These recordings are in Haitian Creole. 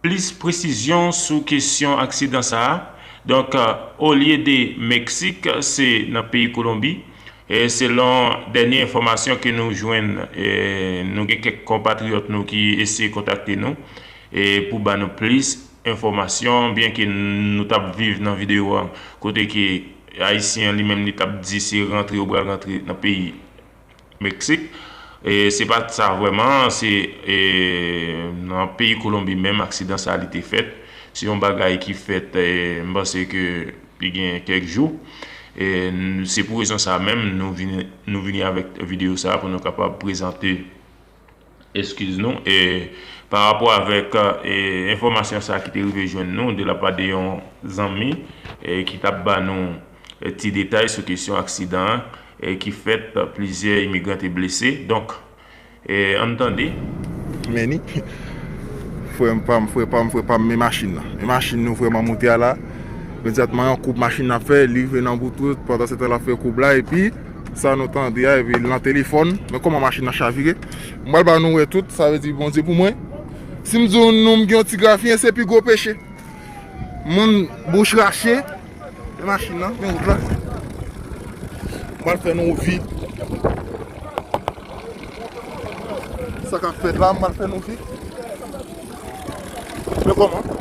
Plis presizyon sou kesyon aksidan sa a, donk olye de Meksik se nan peyi Kolonbi, selon dènye enfòmasyon ke nou jwenn, nou gen kèk konpatriyòt nou ki eseye kontakte nou pou ba nou plis enfòmasyon byen ke nou t ap viv nan videyo an kote ke ayisyen an li menm li t ap di se rantre ou pral rantre nan peyi. Meksik, se pa t sa vrèman, se nan peyi Kolonbi menm aksidan sa li te fèt. Se yon bagay ki fèt m panse ke li gen kèk jou. Se pou rezon sa menm nou vini avèk videyo sa pou nou kapab prezante. Eskiz nou, e pa rapò avèk enfòmasyon sa ki te rive jwenn nou de la pa de yon zanmi ki t ap ba nou ti detay sou kesyon aksidan an ki fèt plizyè imigran te blese. Donk, an n tande. Many, Frè m pa m, frè pa m, frè pa m, men machin nan. Men machin nou frè m an moute a la. Imedyatman yon koub machin nan ap fè, li rive nan bout wout, pandansetan l ap fè koub la epi. Sa nou tande a epi nan telefòn men kòman machin nan chavire m pral ba nou wè tout sa vle di Bondye pou mwen si m di nou m gen yon ti grafiyen se pi gwo peche moun bouch rache men machin nan men wout la m pral fè nou vi sa kap fèt la m pral fè nou vi men kòman.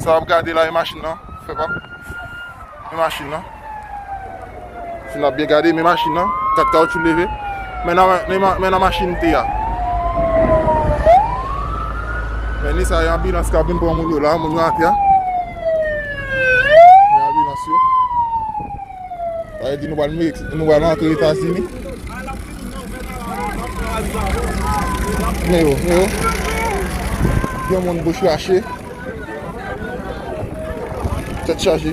Sa wap gade la e machin nan, fè pa. E machin nan. Si nap byen gade, men machin nan, kat kaw chou leve. Men nan, men nan machin te a. Men ni sa e ambilans ka bin pran moun yo la, moun yo atya. Men ambilans yo. Sa vle di nou pral Mex, nou pral antre Etazini. Men yo, men yo. Gen moun bouch rache. Tèt chaje.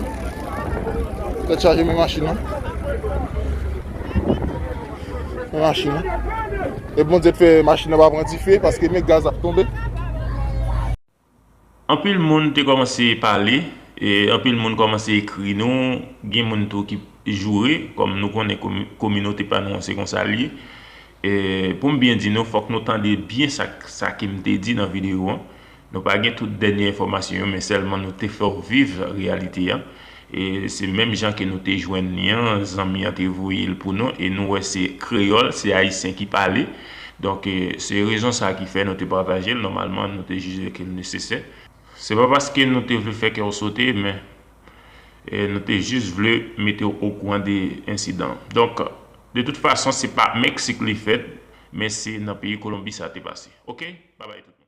Tèt chaje men machin nan. Men machin nan. E bon di te fè machin nan pa pran dife paske men gaz ap tonbe. Anpil moun te kòmanse pale, anpil moun kòmanse ekri nou, gen moun tou ki joure, kòm nou konnen kominote pa nou an se konsa l ye. Pou m byen di nou, fòk nou tande byen sa ke m te di nan videyo an. Nou pa gen tout dènye enfòmasyon yo men sèlman nou te fè w viv reyalite a. E se menm jan ke nou te jwenn li an, zanmi an te voye l pou nou e nou wè se kreyòl, se ayisyen ki pale. Donk, se rezon sa ki fè nou te pataje l, nòmalman nou te jije ke l nesesè. Se pa paske nou te vle fè kè w sote, men nou te jis vle mete w okouran de ensidan an. Donk, de tout fason se pa Meksik li fèt, men se nan peyi Kolonbi sa te pase. Ok, babay tout moun.